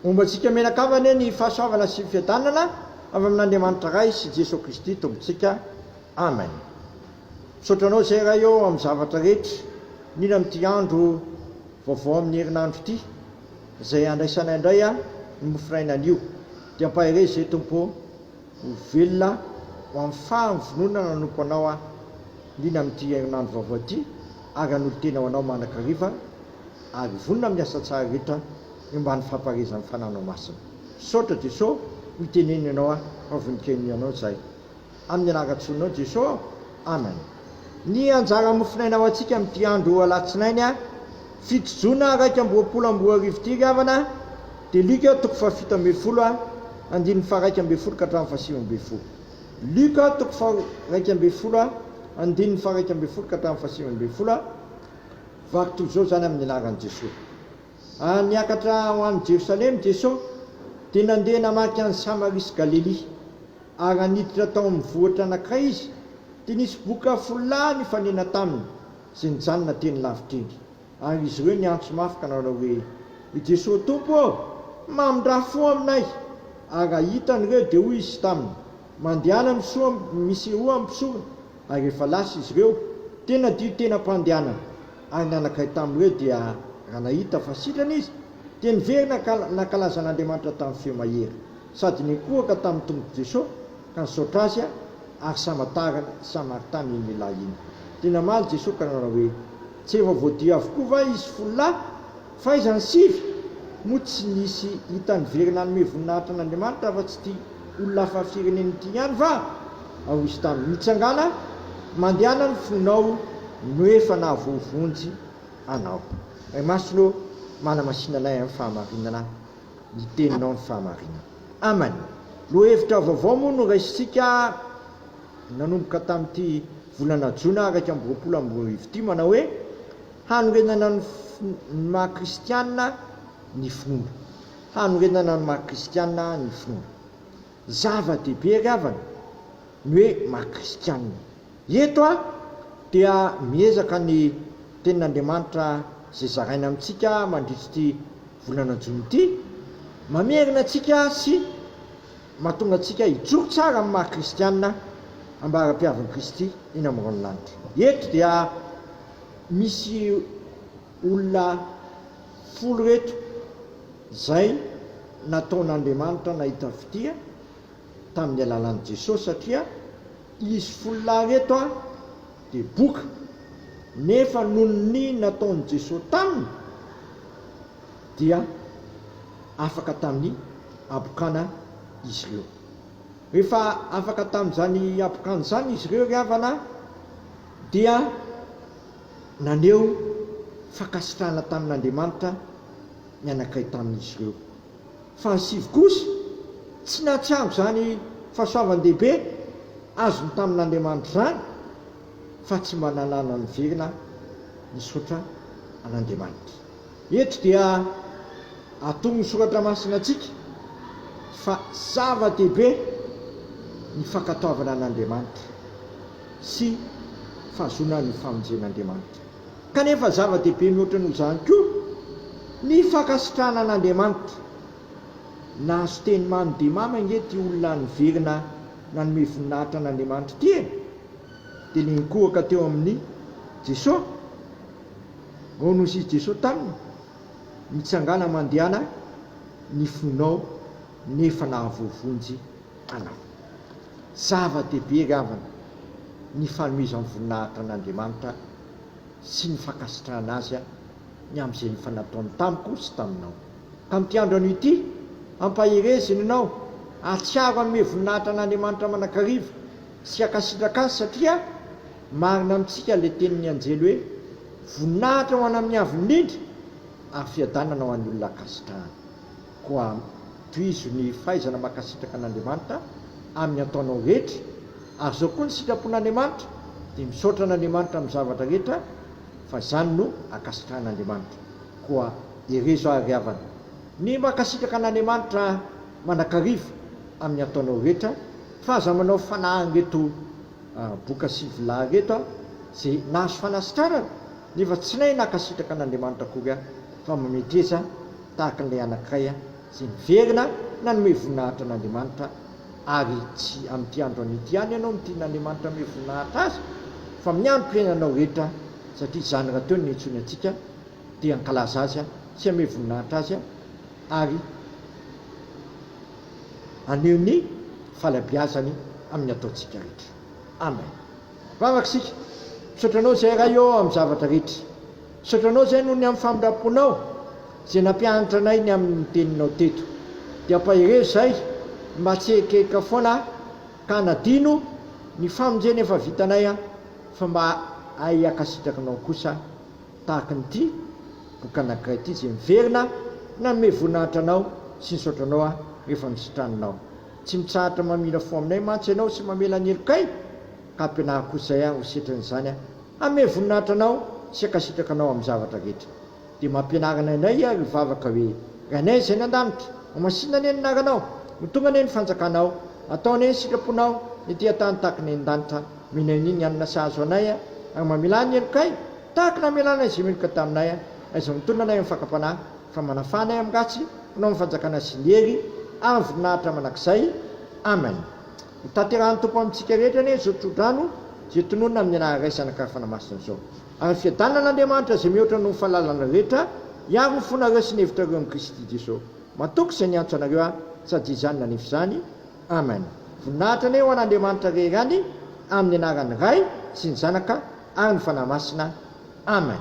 Homba antsika mianakavy anie ny fahasoavana sy fiadanana avy amin'Andriamanitra Ray sy Jesoa Kristy Tompontsika. Amen. Misaotra Anao izay Ray ô amin'ny zavatra rehetra, indrindra amin'ity andro vaovao amin'ny herinandro ity, izay handraisanay indray ny mofonaina anio. Dia ampaherezo izay Tompo ô, ho velona ho amin'ny fahavononana nanompo Anao aho, indrindra amin'ity herinandro vaovao ity, ary hanolo-tena ho Anao mandrakariva. ary vonona amin'ny asa tsara rehetra ny mba ny fampaherezan'ny fananao masina. Misaotra Jesoa no iteneniny anao aho fa voninkainony ianao izahay. Amin'ny anaran-tsoninao Jesoa aho. Amen. Ny anjara mofonaina ho antsika amin'ity andro alatsinainy fito jona iraika amby roapolo amby roa arivo ity ry havana dia Luc toko fahafito ambin'ny folo andininy faharaika ambin'ny folo ka hatramin'ny fahasivy ambin'ny folo Luc toko faharaika ambin'ny folo andininy faharaika ambin'ny folo ka hatramin'ny fahasivy ambin'ny folo Vaky toy izao izany amin'ny anaran'i Jesoa. Ary niakatra ho any Jerosalema i Jesoa, dia nandeha namaky an'i Samaria sy Galelia. Ary raha niditra tao amin'ny vohitra anankiray izy, dia nisy boka folo lahy nifanena taminy, izay nijanona teny lavitra iny. Ary izy ireo niantso mafy ka nanao hoe, I Jesoa Tompo ô, mamindrà fo aminay! Ary raha hitany ireo, dia hoy izy taminy, Mandehana misoa misehoa am pisora ary rehefa lasa izy ireo tena dio tena mpandehanana ary nanakay tam ireo dia raha nahita fa sitrana izy dia niverina ka nankalaza an Andriamanitra tam feo mahery sady nikohaka tam Tompoko Jesosy ka nisaotra azy ary sama tariny sama ary tam iny lehilahy iny dia namaly Jesosy ka nanao hoe tsy efa voadio avokoa va izy folo lahy Fahaizan'ny sivy moa tsy nisy hita niverina hanome voninahitra an'Andriamanitra afa-tsy ity olona hafa firenena ity ihany va? Hoy izy taminy, Mitsangàna, mandehana ny fonao no efa nahavoavonjy anao. Ray Masina ô, manamasina anay amin'ny fahamarinana ny Teninao ny fahamarinana. Amen. Lohahevitra vaovao moa no raisintsika nanomboka tamin'ity volana jona iraika amby roapolo amby roa arivo ity, manao hoe, Hanorenana ny maha kristiana ny finoana. Hanorenana ny maha kristiana ny finoana. Zava-dehibe ry havana ny hoe maha kristiana. Eto aho dia miezaka ny tenin'Andriamanitra izay zaraina amintsika mandritra ity volana jona ity, mamerina antsika sy mahatonga antsika hijoro tsara amin'ny maha kristiana ambara-piavin'i Kristy eny amin'ny ranon-lanitra. Eto dia. Misy olona folo reto izay nataon'Andriamanitra nahita fitia tamin'ny alalan'i Jesosy satria izy folo lahy reto dia boka nefa noho ny nataon'i Jesosy taminy dia afaka tamin'ny habokana izy ireo. Rehefa afaka tamin'izany habokana izany izy ireo ry havana a! dia naneho fankasitrahana tamin'Andriamanitra ny anankiray tamin'izy ireo. Fa ny sivy kosa tsy nahatsiaro izany fahasoavan-dehibe azony tamin'Andriamanitra izany, fa tsy mba nanana niverina nisaotra an'Andriamanitra. Eto dia atoron'ny Soratra Masina antsika fa zava-dehibe ny fankatoavana an'Andriamanitra. sy fahazoana ny famonjen'Andriamanitra. Kanefa zava-dehibe mihoatra noho izany koa ny fankasitrahana an'Andriamanitra. Nahazo teny mamy dia mamy ange ity olona niverina nanome voninahitra an'Andriamanitra ity e! Dia ilay nikohaka teo amin'i Jeso, ao nosy i Jeso taminy, Mitsangàna mandehana ny fonao nefa nahavoavonjy Tanana. Zava-dehibe angambany ny fanomezan'ny voninahitra an'Andriamanitra sy ny fankasitrahana Azy ny amin'izay efa nataony tamiko sy taminao. Tamin'ity andro anio ity, ampaherezina ianao, ahatsiaro hanome voninahitra an'Andriamanitra mandrakariva sy hankasitraka Azy satria marina amintsika ilay tenin'ny anjely hoe, Voninahitra ho an'Amin'ny Avo Indrindra ary fiadanana ho an'ny olona ankasitrahany. Koa tohizo ny fahaizana mankasitraka an'Andriamanitra amin'ny ataonao rehetra, ary izao koa ny sitrapon'Andriamanitra, dia misaotra an'Andriamanitra amin'ny zavatra rehetra, fa izany no ankasitrahan'Andriamanitra. Koa herezo ary ry havana, ny mankasitraka an'Andriamanitra mandrakariva amin'ny ataonao rehetra, fa aza manao fanahy an'ireto boka sy vilà ireto, izay nahazo fanasitranana, Nefa tsy nahay nankasitraka an'Andriamanitra akory aho, fa mametreza tahaka an'ilay anankiray izay niverina nanome voninahitra an'Andriamanitra, ary tsy amin'ity andro anio ihany ianao no tian'Andriamanitra hanome voninahitra Azy, fa amin'ny androm-piainanao rehetra, satria izany rahateo no iantsoiny antsika, dia hankalaza Azy sy hanome voninahitra Azy, ary haneho ny fahalabeazany amin'ny ataontsika rehetra. Amen. Vavaka isika. Misaotra Anao Izay Ray ô amin'ny zavatra rehetra. Misaotra Anao Izay noho ny amin'ny famindram-ponao Izay nampianatra anay ny amin'ny Teninao teto. Dia ampaherezo izay mba tsy hihekaheka foana ka hanadino ny famonjena efa vitanay fa mba hahay hiakasitraka Anao kosa tahaka an'ity boky anankiray ity izay miverina nanome voninahitra Anao sy nisaotra Anao rehefa nisitraninao Tsy mitsahatra mamindra fo aminay mantsy Ianao sy mamela ny helokay, ka ampianariko izay aho ho setrin'izany aho. Hanome voninahitra Anao sy hankasitraka Anao amin'ny zavatra rehetra. Dia mampianarana anay Iha ary hivavaka hoe, Ry Anay izay any an-danitra, homasinina anie ny anaranao, ho tonga anie ny fanjakanao, atao anie ny sitraponao ety an-tany tahaka ny any an-danitra, omena anie ny hanina sahaza ho anay ary mamelà ny helokay tahaka ny namelànay izay meloka taminay, na izay mitonona anay amin'ny fakam-panahy. Fa manafana ahy amin'ratsy, mpanao ny fanjakana sy ny hery ary ny voninahitra mandrakizay. Amen. Ho tanterahan'ny Tompo amintsika rehetra anie izao tsodrano izay tononina amin'ny anarany Ray, Zanaka ary Fanahy Masina izao. Ary ny fiadanan'Andriamanitra izay mihoatra noho ny fahalalana rehetra hiaro ny fonareo sy ny hevitrareo amin'i Kristy Jesosy. Matoky izay niantso anareo aho, sady izany nanefa izany. Amen. Voninahitra anie ho an'Andriamanitra rehery any amin'ny anaran'ny Ray sy ny Zanaka ary ny Fanahy Masina. Amen.